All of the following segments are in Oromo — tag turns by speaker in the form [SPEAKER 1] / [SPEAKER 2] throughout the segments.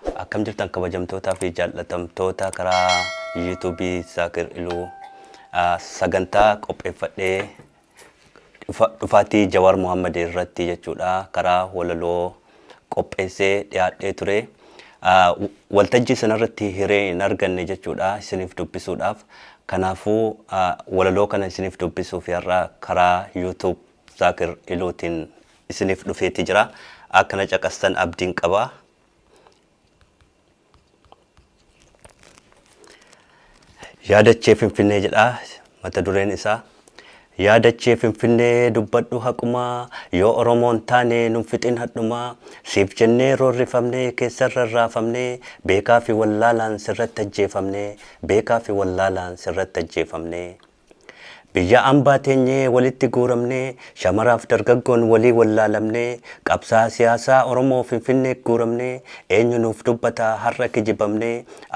[SPEAKER 1] Akkam jirtan kabajamtootaa fi jaallatamtoota karaa YouTube Zaakir Iluu. Sagantaa qopheeffadhee dhufaatii Jawaar Mohammed irratti jechuudha karaa walaloo qopheessee dhiyaadhee ture. Waltajjii sanarratti hiree hin arganne jechuudha isiniif dubbisuudhaaf. Kanaafuu walaloo kana isiniif dubbisuuf har'a karaa YouTube Zaakir Iluutiin isiniif dhufeeti jira. Akkana caqastan abdiin qaba. Yaadachee Finfinnee jedha mata dureen isaa. Yaadachee Finfinnee dubbadhu haqumaa yoo Oromoon taane nun fixin hadhumaa siif jennee roorrifamne keessarra raafamne beekaa fi wallaalaan sirratti ajjeefamne beekaa fi wallaalaan sirratti ajjeefamne. Biyya ambaa teenyee walitti guuramnee shamaraaf dargaggoon walii wallaalamnee qabsaa'aa siyaasaa Oromoo Finfinnee guuramnee eenyu nuuf dubbataa har'a kijibamnee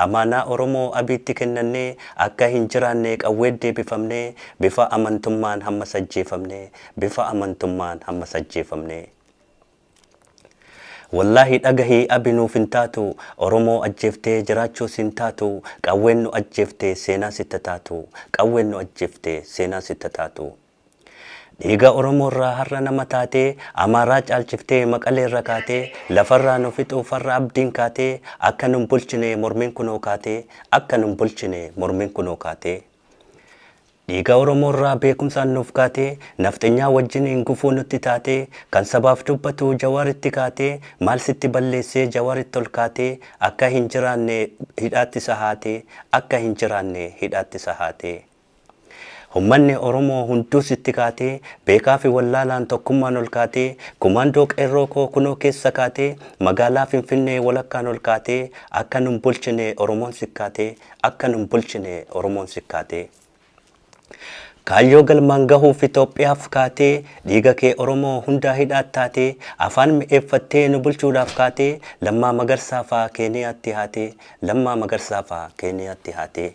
[SPEAKER 1] amaanaa Oromoo Abiitti kennannee akka hin jiraannee qawweet deebifamnee bifa amantummaan hammas ajjeefamnee bifa amantummaan hammas ajjeefamnee. Wollahi dhagahi abi nuuf hin taatu oromoo ajjeeftee jiraachuu siin taatu qawween nu ajjeefte seenaa sitta taatu qawween nu ajjeefte seenaa sitta taatu dhiiga oromoorraa har'a nama taatee amaaraa caalchiftee maqaleerra kaatee lafarraa nu fixuuf har'a abdiin kaatee akka nun bulchine mormiin kunoo kaatee akka nun bulchine mormiin kunoo kaatee Dhiiga Oromoo irraa beekumsaan nuuf kaatee Nafxenyaa wajjiniin gufuu nutti taatee Kan sabaaf dubbatu Jawaaritti kaatee Maal sitti balleessee Jawaaritti ol kaatee Akka hin jiraanne hidhaatti sahaatee Akka hin jiraanne hidhaatti sahaatee Ummanni Oromoo hunduu sitti kaatee Beekaa fi wallaalaan tokkummaan ol kaatee Kumaandoo qeerroo koo kunoo keessa kaatee Magaalaa Finfinnee walakkaan ol kaatee Akka nun bulchine Oromoon sikkaatee Akka nun bulchine Oromoon sikkaatee. Kaayyoo galmaan gahuuf Itoophiyaaf kaatee Dhiiga kee Oromoo hundaa hidhaat taatee Afaan mi'eeffattee nu bulchuudhaaf kaatee Lammaa Magarsaa faa Keeniyaatti haatee Lammaa Magarsaa faa Keeniyaatti haatee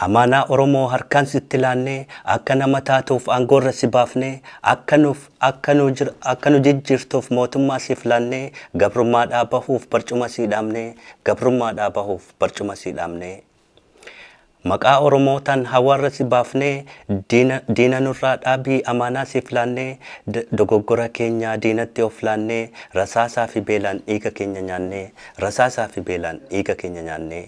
[SPEAKER 1] Amaanaa Oromoo harkaan sitti laannee Akka nama taatuuf aangoorra si baafnee Akka nuuf Akka nu jir akka nu jijjiirtuuf mootummaa siif laannee gabrummaadhaa bahuuf barcuma sii dhaabnee gabrummaadhaa bahuuf barcuma sii dhaabnee Maqaa Oromootaan hawaarra si baafnee diina diina nurraa dhaabii amaanaa siif laannee d dogoggora keenyaa diinatti of laannee rasaasaa fi beelaan dhiiga keenya nyaannee rasaasaa fi beelaan dhiiga keenya nyaannee.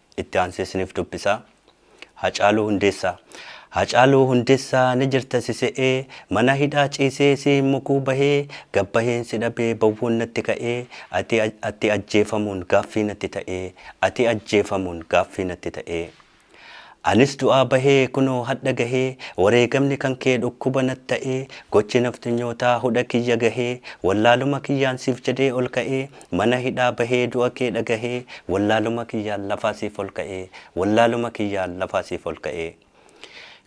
[SPEAKER 1] itti aansee isiniif dubbisa. Hacaaluu Hundeessaa. Hacaaluu Hundeessaa ni jirta si se'ee, mana hidhaa ciisee si hin mukuu bahee, gad baheen si dhabee bowwoon natti ka'ee, ati, ati ajjeefamuun gaaffii natti ta'ee, ati ajjeefamuun gaaffii natti ta'ee. Anis du'aa bahee kunoo hadha gahee, wareegamni kan kee dhukkuba nat ta'ee, gochi nafxnyootaa hudha kiyya gahee, wallaaluma kiyyaan siif jedhee ol ka'ee, Mana hidhaa bahee du'a kee dhagahee Wallaaluma kiyyaan lafaa siif ol ka'ee Wallaaluma kiyyaan lafaa siif ol ka'ee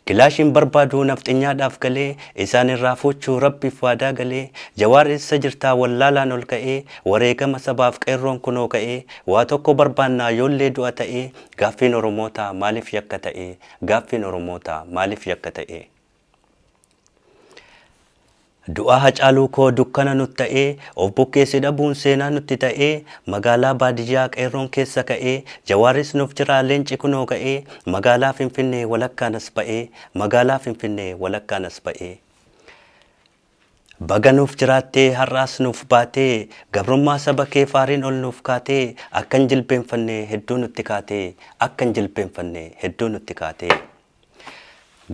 [SPEAKER 1] Kilaashiin barbaadu nafxenyaadhaaf galee Isaan irraa fuuchuu Rabbiif waadaa galee Jawaar eessa jirtaa wallaalaan ol ka'ee Wareegama sabaaf qeerroon kunoo ka'ee Waa tokko barbaannaa yoollee du'a ta'ee Gaaffiin Oromootaa maaliif yakka ta'ee Gaaffiin Oromootaa maaliif yakka ta'ee. Du'a Hacaaluu koo dukkana nut ta'ee, of bukkeessi dhabuun seenaa nutti ta'ee, magaalaa baadiyyaa qeerroon keessa ka'ee, Jawaarris nuf jiraa leenci kunoo ka'ee, magaalaa Finfinnee walakkaan as ba'ee, magaalaa Finfinnee walakkaan as ba'ee. Baga nuuf jiraattee har'aas nuuf baatee, gabrummaa saba kee faariin ol nuuf kaatee, akkan jilbeenfanne hedduu nutti kaatee, akkan jilbeenfanne hedduu nutti kaatee.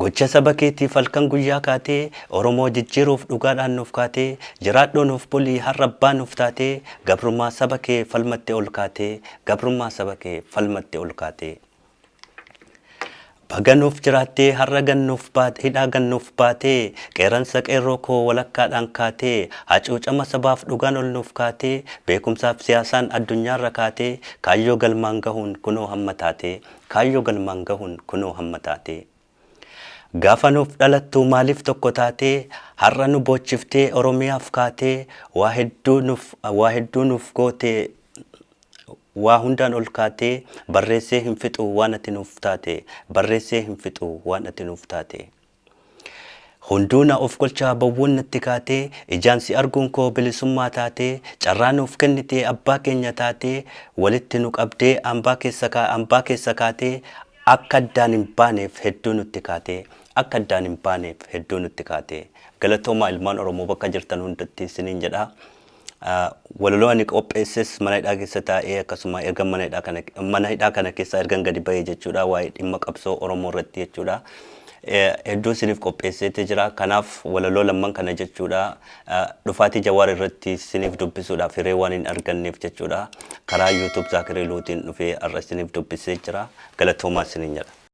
[SPEAKER 1] Gocha saba keetiif halkan guyyaa kaatee Oromoo jijjiiruuf dhugaadhaan nuuf kaatee Jiraadhuu nuuf bulii har'a abbaa nuuf taatee Gabrummaa saba kee falmatte ol kaatee Gabrummaa saba kee falmatte ol kaatee Baga nuuf jiraattee har'a gad nuuf baate hidhaa gad nuuf baatee Qeerransa qeerroo koo walakkaadhaan kaatee Hacuucama sabaaf dhugaan ol nuuf kaatee Beekumsaaf siyaasaan addunyaarra kaatee Kaayyoo galmaan gahuun kunoo hamma taatee Kaayyoo galmaan gahuun kunoo hamma taatee. Gaafa nuuf dhalattu maaliif tokko taatee Har'a nu boochiftee Oromiyaaf kaatee Waa hedduu nuuf waa hedduu nuuf goote Waa hundaan ol kaatee Barreessee hin fixu waan ati nuuf taate Barreessee hin fixu waan ati nuuf taate. Hunduu na ofkolchaa bowwuun natti kaatee Ijaan si arguun koo bilisummaa taatee Carraa nuuf kennitee abbaa keenya taatee Walitti nu qabdee ambaa keessa kaa ambaa keessa kaatee Akka addaan hin baaneef hedduu nutti kaatee Akka addaan hin baaneef hedduu nutti kaatee Galatoomaa ilmaan oromoo bakka jirtan hundatti isiniin jedha Walaloo ani qopheesses mana hidhaa keessa taa'ee akkasuma ergan mana hidhaa kana mana hidhaa kana keessaa ergan gadi ba'ee jechuudha waa'ee dhimma qabsoo Oromoo irratti jechuudha. Hedduun isiniif qopheesseeti jira. Kanaaf walaloo lamman kana jechuudha dhufaatii Jawaar irratti isiniif dubbisuudhaaf hiree waan hin arganneef jechuudha karaa YouTube Zaakir Iluutiin dhufee har'a isiniif dubbisee jira. Galatoomaa isiniin jedha.